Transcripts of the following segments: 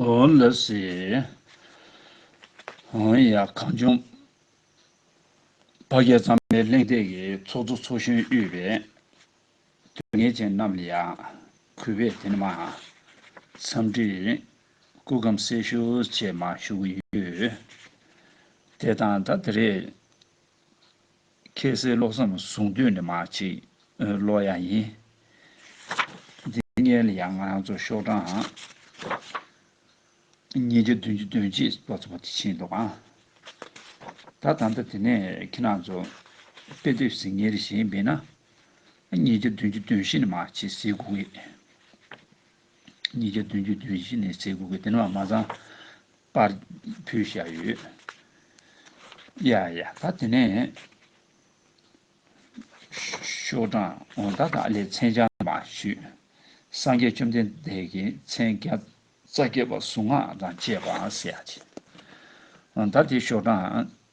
ཨོ་ལི་སི། ཧོང་ཡ། གངས་ལྗོངས། བ་རྒྱལ་གཙང་མའི་གླེང་སྟེགས་ཀྱི་ཚོགས་གཙོ་ཚོགས་གཞོན་དབུས་པའི་དོན་གཉེར་ཅན་རྣམས་ལ་ཡང་གུས་པས་དེ་ནི་མ། འཚམས་འདྲི། སྐུ་གམ་གསལ་ཞུ་བཅས་མ་ཞུ་གི་ཡོད། དེ་དང་ད་དེ་རེས། ཁྱེད་སའི་བློ་བསམ་བཟུང་དུས་ནས་མ་ཅིག་ལོ་ཡང་ཡིན། འདི་ངའི་ལ་ཡང་ང་རང་ཚོ་ཤོག་གྲངས་ཉིས་བརྒྱ་བདུན་ཅུ་དོན་གཅིག་བ་ཚོ་བ་དེ་ཕྱིན་འདུག་ཨང། ད་ད་ལྟ་དེ་ནས་ཁྱེད་རང་ཚོ་དཔེ་དེབ་ཟིན་ཉེར་བཞི་ཡིན་པས་ན། ཉིས་བརྒྱ་བདུན་ཅུ་དོན་བཞི་ནས་མ་ཅིག་ཟིན་དགོས་ངེས། ཉིས་བརྒྱ་བདུན་ཅུ་དོན་བཞི་ནས་ཚེས་དགུ་གི་ཏིལ་མར་མ་ཚང་པར་ཕུལ་བཞག་ཡོད། ཡ་ཡ་ད་དེ་ནས། ཤོག་གྲངས་འོ་ད་དག་ལས་མཚན་བྱང་མ་ཞུས། སངས་རྒྱས་བཅོམ་ལྡན་འདས་ཀྱི་མཚན་བརྒྱ་རྩ་བརྒྱད་པ་གཟུངས་སྔགས་དང་བཅས་པ་གསལ་བྱེད། འོ་ད་དེ་ཤོག་གྲངས་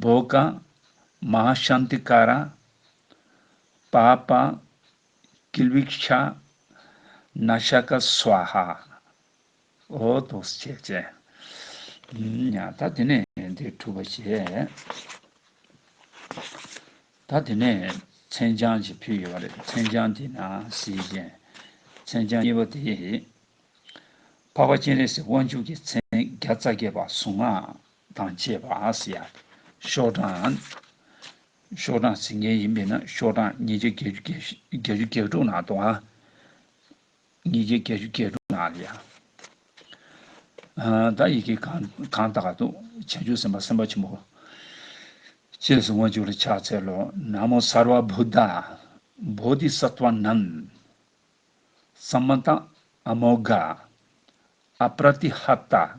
འབོ་གངས་མ་ཤཱནྟི་ཀ་ར། པ་པཱ་ཀིལ་བིག་ཤ། ན་ཤ་ཀ་སུའ་ཧ། འོ་དོ་སི་བྱས་བྱས། ད་དེ་ནས་དེ་གྲུབ་པ་བྱས། ད་དེ་ནས་མཚན་བྱང་ཅིག་ཕུལ་ཡོད་པ་རེད། མཚན་བྱང་དེ་ན་སི་ཅན། མཚན་བྱང་གཉིས་པ་དེ། འཕགས་པ་སྤྱན་རས་གཟིགས་དབང་ཕྱུག་གི་མཚན་བརྒྱ་རྩ་བརྒྱད་པ་གཟུངས་སྔགས། དང་བཅས་པ་སི་ཡ། ཤོག་གྲངས། ཤོག་གྲངས་ཟིན་མཁན་ཡིན་པས་ན་ཤོག་གྲངས་ཉིས་བརྒྱ་བརྒྱད་ཅུ་བརྒྱད་བརྒྱད་ཅུ་བརྒྱད་དྲུག་ནང་དུའང། ཉིས་བརྒྱ་བརྒྱད་ཅུ་བརྒྱད་དྲུག་ནང་ལ་ཡང། བརྡ་ཡི་གེ་གང་གང་དག་ཏུ་བྱང་ཆུབ་སེམས་དཔའ་སེམས་དཔའ་ཆེན་པོ། ཅེས་སུ་མངོན་བྱུང་ལ་ཕྱག་འཚལ་ལོ། ན་མོ་སརྦ་བྷུ་ད། བྷོ་དྷི་སཱ་ཏཝ་ནམ། སམ་མནྟ། ཨ་མོ་གྷ། ཨ་པྲ་ཏི་ཧ་ཏ།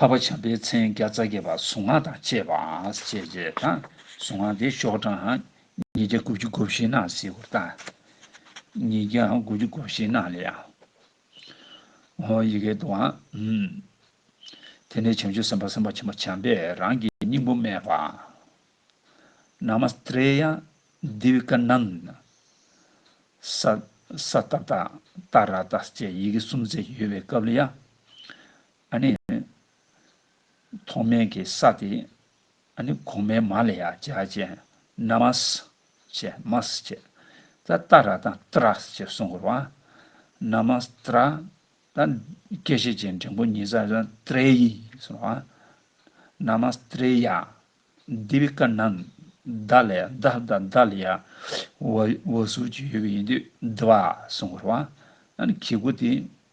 འཕགས་པ་བྱམས་པའི་མཚན་བརྒྱ་རྩ་བརྒྱད་པ་གཟུངས་སྔགས་དང་བཅས་པ་ཞེས་བྱ་བ་དང་གཟུངས་སྔགས་འདི་ཤོག་གྲངས་ཉིས་བརྒྱ་དགུ་བཅུ་དགུ་བཞི་སྣང་སྲིད་པོ་དང། ཉིས་བརྒྱ་དགུ་བཅུ་དགུ་བཞི་སྣང་ལས་ཡང། ཧོ། ཡི་གེ་དང། དེ་ནས་བྱང་ཆུབ་སེམས་དཔའ་སེམས་དཔའ་ཆེན་པོ་བྱམས་པས་རང་གི་སྙིང་པོ་སྨྲས་པ། Namastraya Divikananda། སྭ། ཏཱ་ཏཱ་ཏཱ་ར་ཏཱ་ཅེས་ཡི་གེ་གསུམ་བརྩེགས་ཡོད་པའི་སྐབས་ལ་ཡང། ཨ་ནི། ཐོག་མའི་གི་ས་དེ། ཨ་ནི་གོང་མའི་མ་ལ་ཡ་བྱ་བྱས། ན་མ་སི། བྱས། མ་སི་བྱས། ད་ཏཱ་ར་དང་ཏི་ར་སི་བྱས་གསུང་དགོས་རོ། ན་མ་སི་ཏི་ར། ད་སྐད་བྱེད་ཀྱི་འབྲིང་པོ་གཉིས་ས་ཏི་རའི་ཡི་གསུང་རོ། ན་མ་སི་ཏི་རའི་ཡ། འདི་བི་ཀ་ན་ད་ལ་ཡ་ད་ད་ད་ལ་ཡ། བ་བ་སུ་ཅི་ཡོད་གི་ཡིན་དུས་དི་བ་གསུང་དགོས་རོ། ཨ་ནི་གི་གུ་དེ།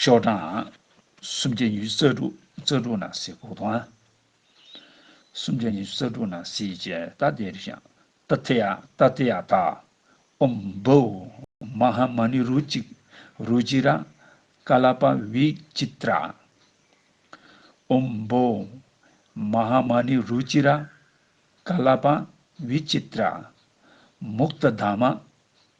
ཤོག་གྲངས། སུམ་བརྒྱ་ཉི་ཤུ་རྩ་དྲུག་རྩ་དྲུག་ནང་གསེས་གོ་དོང། སུམ་བརྒྱ་ཉི་ཤུ་རྩ་དྲུག་ནང་གསེས་ཀྱི་རྟ་དེ་རི་ཤང་རྟ་དེ་ཡ་རྟ་དེ་ཡ་རྟ། ཨོམ་བྷོའུ། མ་ཧ་མ་ནི་རུ་ཅིག་རུ་ཅི་ར། ཀ་ལ་པ་བི་ཅི་ཏྲ། ཨོམ་བྷོའུ། མ་ཧ་མ་ནི་རུ་ཅི་ར། ཀ་ལ་པ་བི་ཅི་ཏྲ། མུཀྟ་དཱ་མ།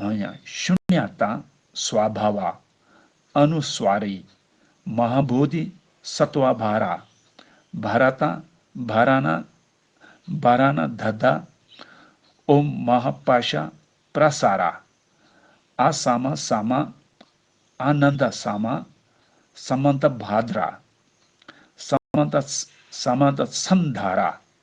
འོན་ཡང་ཤུནྱ་ཏཱ་སཝ་བྷ་བ། ཨ་ནུ་སཝ་རི། མ་ཧཱ་བྷོ་དྷི། སཱ་ཏཝ་བྷ་ར། བྷ་ར་ཏཱ། བྷ་ར་ནཱ། བྷ་ར་ནཱ་དྷ་དཱ། ཨོ་མ་ཧ་པ་ཤ་པྲ་ས་ར། ཨ་ས་མ་ས་མ། ཨ་ནན་ཏ་ས་མ། ས་མ་ནྟ་བྷ་དྲ། ས་མ་ནྟ་ས་མ་ནྟ་ཚན་དྷ་ར།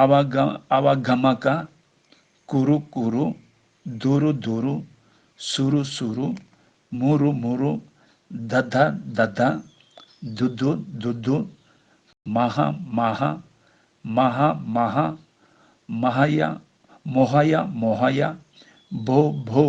ཨ་བ་ག་ཨ་བ་ག་མ་ཀ། ཀུ་རུ་ཀུ་རུ། དུ་རུ་དུ་རུ། སུ་རུ་སུ་རུ། མུ་རུ་མུ་རུ། དཱ་དཱ་དཱ་དཱ། དུ་དུ་དུ་དུ། མ་ཧ་མ་ཧ། མ་ཧ་མ་ཧ། མ་ཧ་ཡ། མོ་ཧ་ཡ་མོ་ཧ་ཡ། བྷོ་བྷོ།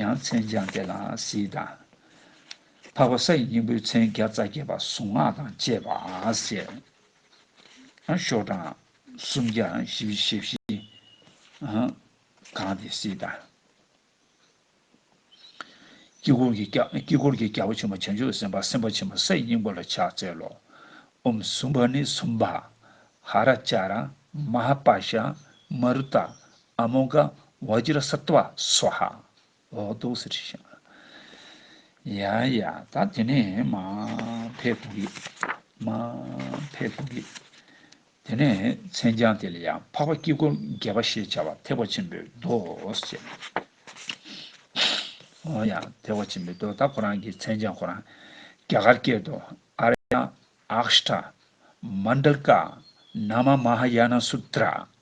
ཡང་མཚན་བྱང་དེ་ལའང་གཟིགས་དང། འཕགས་པ་ས་ཡི་སྙིང་པོའི་མཚན་བརྒྱ་རྩ་བརྒྱད་པ་གཟུངས་སྔགས་དང་བཅས་པ། ཡང་ཤོག་གྲངས་སུམ་བརྒྱ་བཞི་བཞི་ཞེ་བཞི། གང་དེ་གཟིགས་དང། དཀྱིལ་འཁོར་གྱི་རྒྱལ་པོ་ཆེན་པོ་བྱང་ཆུབ་སེམས་དཔའ་སེམས་དཔའ་ཆེན་པོ་ས་ཡི་སྙིང་པོ་ལ་ཕྱག་འཚལ་ལོ། འོམ་བཟུང་བ་ནི་གསུམ་པ། ཧ་ར་ཅཱ་ར། མ་ཧཱ་པཱ་ཤ། མ་རུ་ཏཱ། ཨ་མོ་ཀ་བ་ཇི་ར་སི་ཏུ་བ་སུ་ཧ་ཨོ་ཏུ་སི་ཏི་ཤ་ཡ་ཡ་ད་དེ་ནས་མ་ཕེ་ཕུ་གི་མ་ཕེ་ཕུ་གི་དེ་ནས་མཚན་བྱང་དེ་ལ་ཡང་འཕགས་པ་དཀྱིལ་འཁོར་རྒྱལ་བ་ཞེས་བྱ་བ་ཐེག་པ་ཆེན་པོའི་མདོ་ཞེས་ཨོ་ཡ་ཐེག་པ་ཆེན་པོའི་མདོ་ད་ཁོ་རང་གི་མཚན་བྱང་ཁོ་རང་རྒྱ་གར་སྐད་དུ་ཨ་ར་ཡ་ཨཀྵ་ཏྲ་མནྡ་ཀ་ན་མ་མ་ཧ་ཡ་ན་སུ་ཏྲ་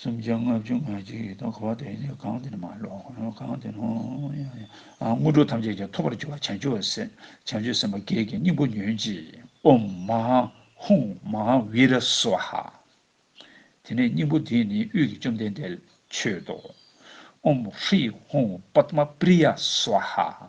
སུམ་བརྒྱ་ལྔ་བཅུ་ང་གཅིག་ཡོད་དོ་གོ་བ་དེ་ནི་གང་དེ་ནི་མ་ལོག་གོ་གང་དེ་ནི་ཡང་ཡང་དངོས་གྲུབ་ཐམས་ཅད་ཀྱི་ཐོབ་པར་འགྱུར་བ་བྱང་ཆུབ་སེམས་བྱང་ཆུབ་སེམས་དཔའ་བརྒྱད་ཀྱི་སྙིང་པོ་ཉོན་ཅིག། ཨོམ་མཧཱ་ཧཱུྃ་མཧཱ་བི་ར་སཝཱ་ཧ། དེ་ནས་སྙིང་པོ་འདིས་ནི་དབུས་ཀྱི་བཅོམ་ལྡན་འདས་ལ་མཆོད་དོ། ཨོམ་ཧྲཱི་ཧཱུྃ་པདྨ་པྲི་ཡ་སཝཱ་ཧ།